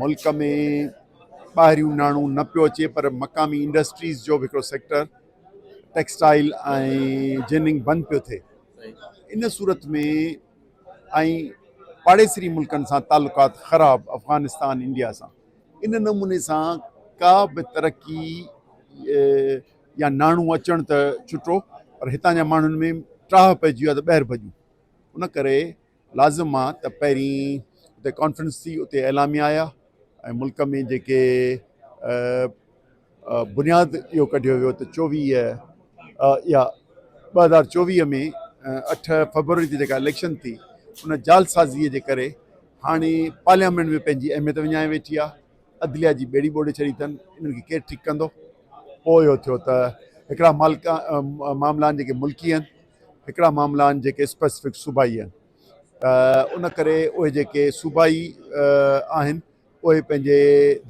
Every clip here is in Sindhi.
ملڪ ۾ ٻاهريون ناڻو نه پيو اچي پر مقامي انڊسٽريز جو به هڪڙو سيڪٽر ٽيڪسٽائل ۽ جننگ بند پيو ٿئي ان صورت ۾ ۽ پاڙيسري ملڪن سان تعلقات خراب افغانستان انڊيا سان ان نموني سان ڪا به ترقي يا ناڻو اچڻ ته ڇٽو پر هتان جا ماڻهن ۾ ٽاهه پئجي ويو آهي ته ٻاهر ڀڄون ان ڪري لازم آ ته پهرين اتي ڪانفرنس ٿي اتي اعلاميا آيا ۽ ملڪ ۾ جيڪي بنياد اهو ڪڍيو ويو ته چوويهه يا ٻه هزار چوويهه ۾ اٺ فبروري تي جيڪا اليڪشن ٿي ان جعلسازيء جي ڪري هاڻي پارليامينٽ ۾ پنهنجي اهميت وڃائي ويٺي آ عدليا جي ٻيڙي ٻوڙي ڇڏي اٿن انهن کي ڪير ٺيڪ ڪندو پوء اهو ٿيو ته هڪڙا مالڪا معاملا آهن جيڪي ملڪي آهن هڪڙا معاملا آهن جيڪي اسپيسفڪ صوبائي آهن ته ان ڪري اهي جيڪي صوبائي آهن اهي پنهنجي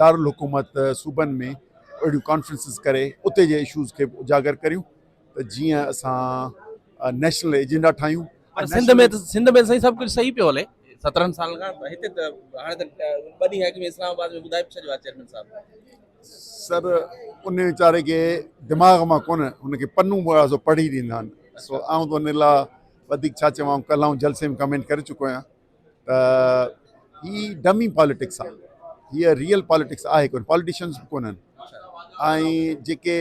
دارالحڪومت صوبن ۾ اهڙيون ڪانفرنسز ڪري اتي جي اشوز کي به اجاگر ڪريون ته جيئن اسان نيشنل ايجنڊا ٺاهيون پر سنڌ ۾ سنڌ ۾ سائين سڀ ڪجهه صحيح پيو هلي سترهن سالن کان هتي ته هاڻي ته ٻه ڏينهن اڳ ۾ اسلام آباد ۾ ٻڌائي به ڇڏيو آهي چيئرمين صاحب سر ان ويچاري کي دماغ مان ڪونه ان کي پنون وغيره سو پڙهي ڏيندا آهن سو آئون ته ان لاء وڌيڪ ڇا چوان آئون ڪلهه آئون جلسي ۾ ڪمينٽ ڪري چڪو آهيان ته هي ڊمي پاليٽڪس آهي هيء ريئل پاليٽڪس آهي ڪونه پاليٽيشنس به ڪونهن ۽ جيڪي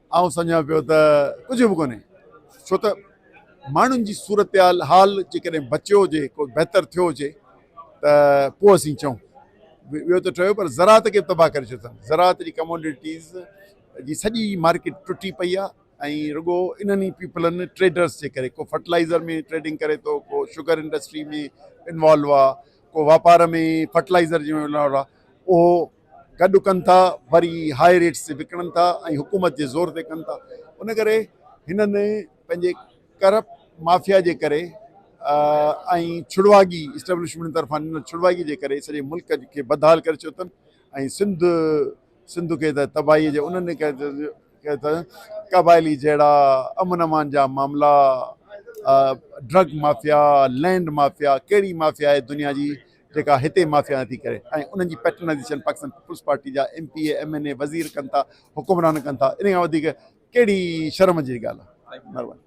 آئون سمجهان پيو ته ڪجهه به ڪونهي ڇو ته ماڻهن جي صورتحال حال جيڪڏهن بچيو هجي ڪو بهتر ٿيو هجي ته پوء اسين چئون ويو ته ٺهيو پر زراعت کي به تباهه ڪري ڇڏيو اٿن زراعت جي ڪموڊيٽيز جي سڄي مارڪيٽ ٽٽي پئي آهي ۽ رڳو انهن ئي پيپلن ٽريڊرس جي ڪري ڪو فرٽلائيزر ۾ ٽريڊنگ ڪري ٿو ڪو شگر انڊسٽري ۾ انوالو آهي ڪو واپار ۾ فرٽلائيزر جي انوالو آهي اهو گڏ ڪن ٿا وري هاء ريٽس تي وڪڻن ٿا ۽ حڪومت جي زور تي ڪن ٿا ان ڪري هنن پنهنجي ڪرپٽ مافيا جي ڪري ۽ ڇڙواڳي اسٽيبلشمينٽ طرفان ڏنل ڇڙواڳي جي ڪري سڄي ملڪ کي بدحال ڪري ڇڏيو اٿن ۽ سنڌ سنڌ کي ته تباهي جي انهن قبائلي جهڙا امن امان جا معاملا ڊرگ مافيا لينڊ مافيا ڪهڙي مافيا آهي دنيا جي جيڪا هتي مافيا نٿي ڪري ۽ انهن جي پيٽرنائيزيشن پاڪستان پيپلز پارٽي جا M P A M N A وزير ڪن ٿا حڪمران ڪن ٿا ان کان وڌيڪ ڪهڙي شرم جي ڳالهه آهي مهرباني.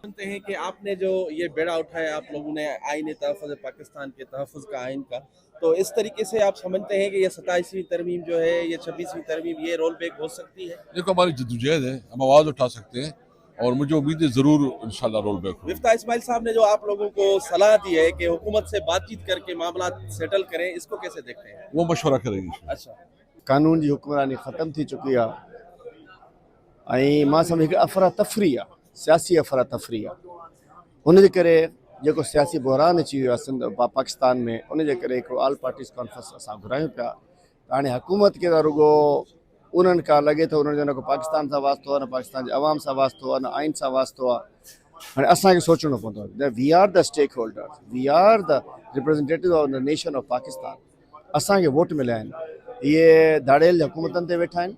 سنت هي ڪي آپ ني جو يه بيڙا اٺايا آپ لوگون ني آئين تحفظ پاڪستان ڪي تحفظ کا آئين کا تو اس طريقي سي آپ سمجهتي هي ڪي يه ستائيس وين ترميم جو هي يه ڇبيس وين ترميم يه رول بيڪ هو سڪتي هي. يه تو هماري جدوجهد هي هم آواز اٺا سڪتي هي اور مجھے اميد ہے ضرور انشاء اللہ رول بیک ہوگا۔ مفتاح اسماعيل صاحب نے جو آپ لوگوں کو صلاح دی ہے کہ حکومت سے بات چیت کر کے معاملات سيٽل کریں اس کو کيسي ديکھتے هين؟ وہ مشورہ کریں گے انشاء اڇا قانون جي حڪمراني ختم ٿي چڪي آ ۽ مان سمجهان ٿو افرا تفري آ سياسي افرا تفري آ ان جي ڪري جيڪو سياسي بحران اچي ويو آ سنڌ پاڪستان ۾ ان جي ڪري هڪڙو آل پارٽيز ڪانفرنس اسان گهرايون پيا ته هاڻي حڪومت کي ته رڳو انهن کان لڳي ٿو انهن جو نه ڪو پاڪستان سان واسطو آهي نه پاڪستان جي عوام سان واسطو آهي نه آئين سان واسطو آهي هاڻي اسان کي سوچڻو پوندو ته we are the stakeholder we are the representative of the nation of Pakistan اسان کي ووٽ مليا آهن اهي ڌاڙيل حڪومتن تي ويٺا آهن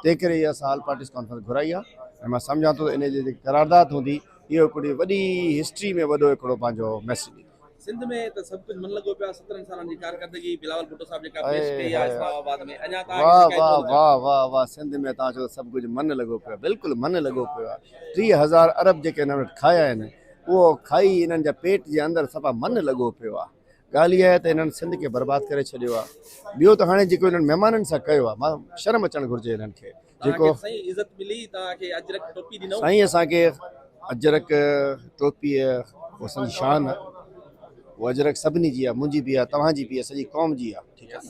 تنهن ڪري اها اسان آل پارٽيز ڪانفرنس گهرائي آهي ۽ مان سمجهان ٿو ته ان جي جيڪي قرارداد هوندي اهو هڪڙي وڏي هسٽري ۾ وڏو هڪڙو پنهنجو ميسج ڏيندو سنڌ ۾ ته سڀ ڪجهه من لڳو پيو آهي سترهن سالن جي ڪارڪردگي بلاول ڀٽو صاحب جيڪا اي پيش ڪئي آهي هاء هاء. اسلام آباد ۾ اڃا توهان کي واه شڪايتون واه لڳا واه واه واه سنڌ ۾ توهان چيو سڀ ڪجهه من لڳو پيو آهي بلڪل من لڳو پيو آهي ٽيهه هزار ارب جيڪي هنن وٽ کايا آهن اهو کائي هنن جا پيٽ جي اندر صفا من لڳو پيو آهي ڳالهه اها آهي ته هنن سنڌ کي برباد ڪري ڇڏيو آهي ٻيو ته هاڻي جيڪو هنن مهمانن سان ڪيو آهي مان شرم اچڻ گهرجي هنن کي جيڪو سائين اسان کي اجرڪ ٽوپي اسان جي شان آ او اجرڪ سڀني جي آ منهنجي به آ توهان جي به آ سڄي قوم جي آ ٺيڪ آ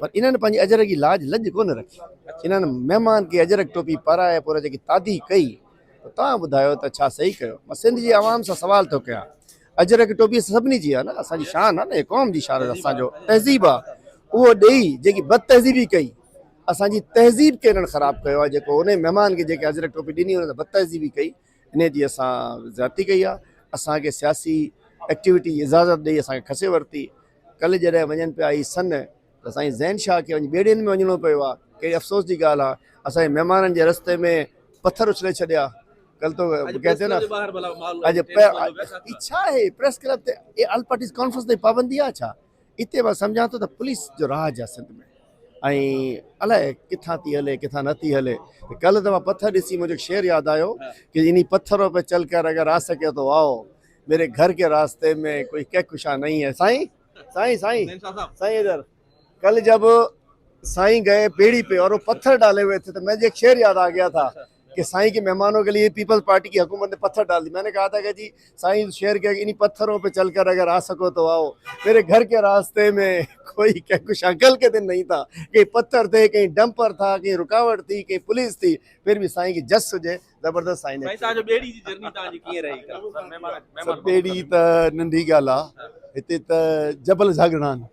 پر انهن پنهنجي اجرڪ جي لاج لڄ ڪونه رکي انهن مهمان کي اجرڪ ٽوپي پارائي پورا جيڪي تادي ڪئي توهان ٻڌايو ته ڇا صحيح ڪيو مان سنڌ جي عوام سان سوال ٿو ڪيان اجرڪ ٽوپي سڀني جي آ نه اسان جي شان آ نه قوم جي شان اسان جو تهذيب آ اهو ڏيئي جيڪي بد تهذيبي ڪئي اسان جي تهذيب کي انهن خراب ڪيو آهي جيڪو انهي مهمان کي جيڪي اجرڪ ٽوپي ڏني انهن سان بد تهذيبي ڪئي انهي جي اسان زيادتي ڪئي آهي اسان کي سياسي ايڪٽيوٽي جي اجازت ڏئي اسان کي کسي ورتي ڪل جڏهن وڃن پيا اهي سن ته سائين زين شاهه کي وڃي ٻيڙين ۾ وڃڻو پيو آهي ڪهڙي افسوس جي ڳالهه آهي اسان جي مهمانن جي رستي ۾ پٿر اڇلي ڇڏيا ڪل تو ڪهتي نه اڄ اڄ ڇا آهي پريس ڪلب تي آل پارٽيز ڪانفرنس تي پابندي آهي ڇا اتي مان سمجهان ٿو ته پوليس جو راڄ آهي سنڌ ۾ ۽ الائي ڪٿان ٿي هلي ڪٿان نه ٿي هلي ڪلهه ته مان پٿر ڏسي منهنجو شعر ياد آيو ڪي اني پٿرو پي چل ڪر اگر آ سکي تو آئو ميري گهر ڪي راسته ۾ ڪوئي ڪي ڪشا نهي هي سائين سائين سائين سائين ادھر ڪلهه جب سائين گئي پيڙي پي اور پٿر ڊالي هئي ٿي ته منهنجو شعر ياد آ گيا ٿا ڪي سائين ڪي مهمانو ڪي ليي پيپلز پارٽي ڪي حڪومت ني پٿر ڊال دي مين ني ڪها ٿا ڪي جي سائين شير ڪي انهي پٿرو پي چل ڪر اگر آ سڪو تو آو ميري گهر ڪي راسته مي ڪوئي ڪي ڪو شنڪل ڪي دن نهي ٿا ڪي پٿر ٿي ڪي ڊمپر ٿا ڪي رڪاوٽ ٿي ڪي پوليس ٿي پھر بي سائين ڪي جس هجي زبردست سائين سائين تهان جو ٻيڙي جي جرني تهان جي ڪيئن رهي ڪل مهمان مهمان ٻيڙي ته ننڍي ڳالهه آ هتي ته جبل جهڳڙا آهن